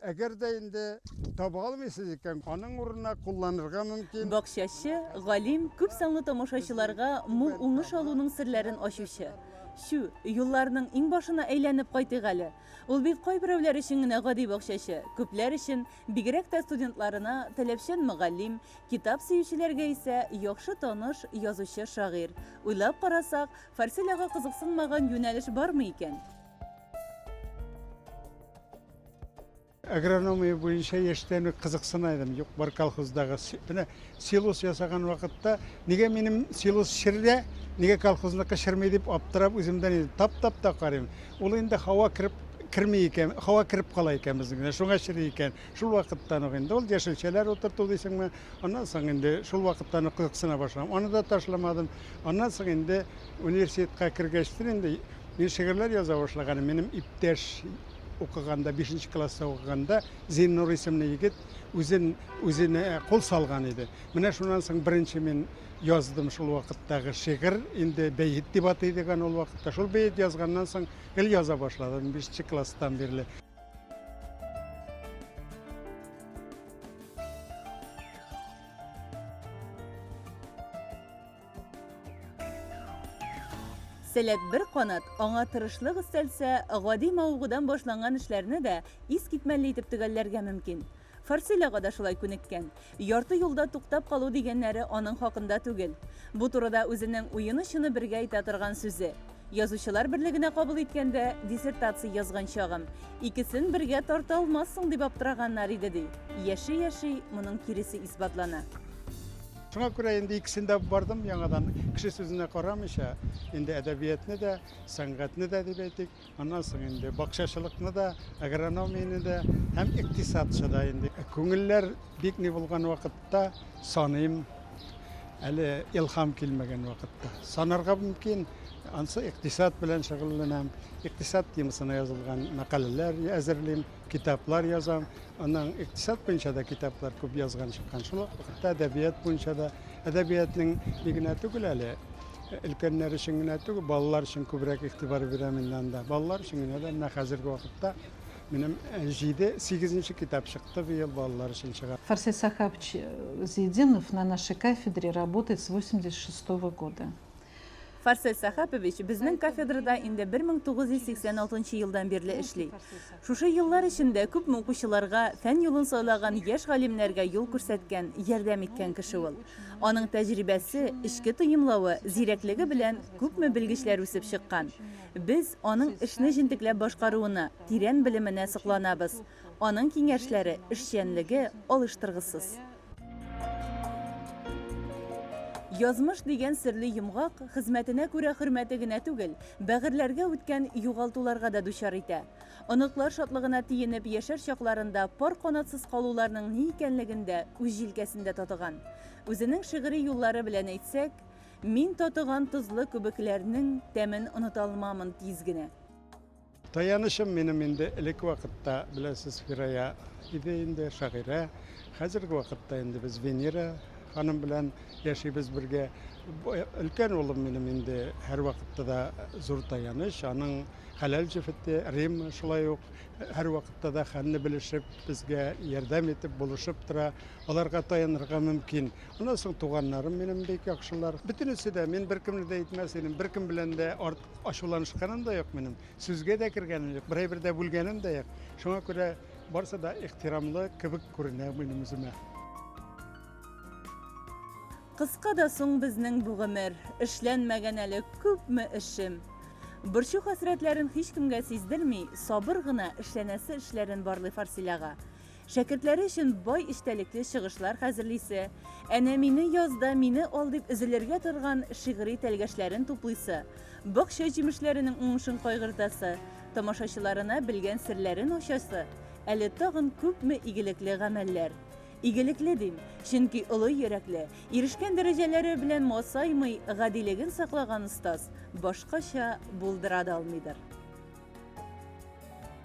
Әгәр дә инде таба алмыйсыз икән, аның урынына кулланырга мөмкин. Бакчачы, галим, күп санлы тамашачыларга мул уңыш алуның серләрен ачучы. Чү, юлларның иңбашына әйләнеп кайтыйк әле. Ул бит кайберәүләр өчен генә гади бакчачы, күпләр өчен, бигрәк тә студентларына, таләпчән мөгаллим, китап сөючеләргә исә яхшы таныш язучы-шагыйрь. Уйлап карасак, Фарсель ага кызыксынмаган юнәлеш бармы икән? агрономия буенча яшьтән үк кызыксына идем юк бар колхоздагы менә силос ясаган вакытта нигә минем силос чердә нигә колхозныкы черми дип аптырап үземдән инде таптап та карыйм ул инде һава кереп керми икән һава кереп кала икән безнекенә шуңа чери икән шул вакыттан ук инде ул яшелчәләр утырту дисеңме аннан соң инде шул вакыттан ук кызыксына башладым аны да ташламадым аннан соң инде университетка кергәчтен инде мин шигырьләр яза башлаганым минем иптәш укыганда, бишенче класста укыганда Зиннур исемле егет үзен үзенә кул салган иде. Менә шуннан соң беренче мин яздым шул вакыттагы шигырь, инде бәет дип атый идек аны ул вакытта. Шул бәет язганнан соң гел яза башладым бишенче класстан бирле. Сәләт бер канат, аңа тырышлык өстәлсә, гади мавыгудан башланган эшләрне дә искитмәле итеп төгәлләргә мөмкин. Фарсилага да шулай күнеккән. Ярты юлда туктап калу дигәннәре аның хакында түгел. Бу турыда үзенең уены-чыны бергә әйтә торган сүзе. Язучылар берлегенә кабул иткәндә, диссертация язган чагым, икесен бергә тарта алмассың дип аптыраганнар иде, ди. Яши-яши, моның киресе исбатлана. Шуңа күрә инде икесен дә бардым яңадан, кеше сүзенә карамыйча, инде әдәбиятны да, сәнгатьне дә дип әйтик, аннан соң инде бакчачылыкны да, агрономияне дә һәм икътисадчы да инде. Күңелләр бик ни булган вакытта саныйм, әле илһам килмәгән вакытта. Санарга мөмкин, ансы икътисад белән шөгыльләнәм, икътисад темасына язылган мәкаләләр әзерлим. Китаплар язам. Аннан икътисад буенча да китаплар күп язган чыккан. Шул ук вакытта әдәбият буенча да әдәбиятның ни генә түгел әле, өлкәннәр өчен генә түгел, балалар өчен күбрәк игътибар бирәм инде анда. Балалар өчен генә дә менә хәзерге вакытта минем 7-8 китап чыкты быел балалар өчен чыга. Фарсет Сахабович Зиединов на нашей кафедре работает с 86 -го года. Фарсель Сәхәпович безнең кафедрада инде 1986 елдан бирле эшли. Шушы еллар эчендә күпме укучыларга, фән юлын сайлаган яшь галимнәргә юл күрсәткән, ярдәм иткән кеше ул. Аның тәҗрибәсе, эчке тоемлавы, зирәклеге белән күпме белгечләр үсеп чыккан. Без аның эшне җентекләп башкаруына, тирән белеменә сокланабыз. Аның киңәшләре, эшчәнлеге алыштыргысыз. Язмыш дигән серле йомгак хезмәтенә күрә хөрмәте генә түгел, бәгырьләргә үткән югалтуларга да дучар итә. Оныклар шатлыгына тиенеп яшәр чакларында пар канатсыз калуларның ни икәнлеген дә үз җилкәсендә татыган. Үзенең шигъри юллары белән әйтсәк, Мин татыган тозлы күбекләрнең тәмен оныта алмамын тиз генә. Таянычым минем инде элек вакытта, беләсез, Фирая иде инде, шагыйрә. Хәзерге вакытта инде без Венера ханым белән яшибез бергә. Өлкән улым минем инде һәрвакытта да зур таяныч, аның хәләл җефете Рим шулай ук һәрвакытта да хәлне белешеп, безгә ярдәм итеп, булышып тора. Аларга таянырга мөмкин. Аннан соң туганнарым минем бик яхшылар. Бөтенесе дә, мин беркемне дә әйтмәс идем, беркем белән дә арт Ачуланышканым да юк минем, сүзгә дә кергәнем юк, берәй бер дә бүлгәнем дә юк. Шуңа күрә барысы да ихтирамлы кебек күренә минем үземә. Кыска да соң безнең бу гомер, Эшләнмәгән әле күпме эшем. Борчу-хәсрәтләрен һичкемгә сиздерми, сабыр гына эшләнәсе эшләрен барлый Фарсиләга. Шәкертләре өчен бай эчтәлекле чыгышлар хәзерлисе, әнә мине яз да мине ал дип өзелергә торган шигъри тәлгәшләрен туплыйсы, бакча җимешләренең уңышын кайгыртасы, тамашачыларына белгән серләрен ачасы, әле тагын күпме игелекле гамәлләр! Игелекле дим, чөнки олы йөрәкле, ирешкән дәрәҗәләре белән масаймый, гадилеген саклаган остаз башкача булдыра да алмыйдыр.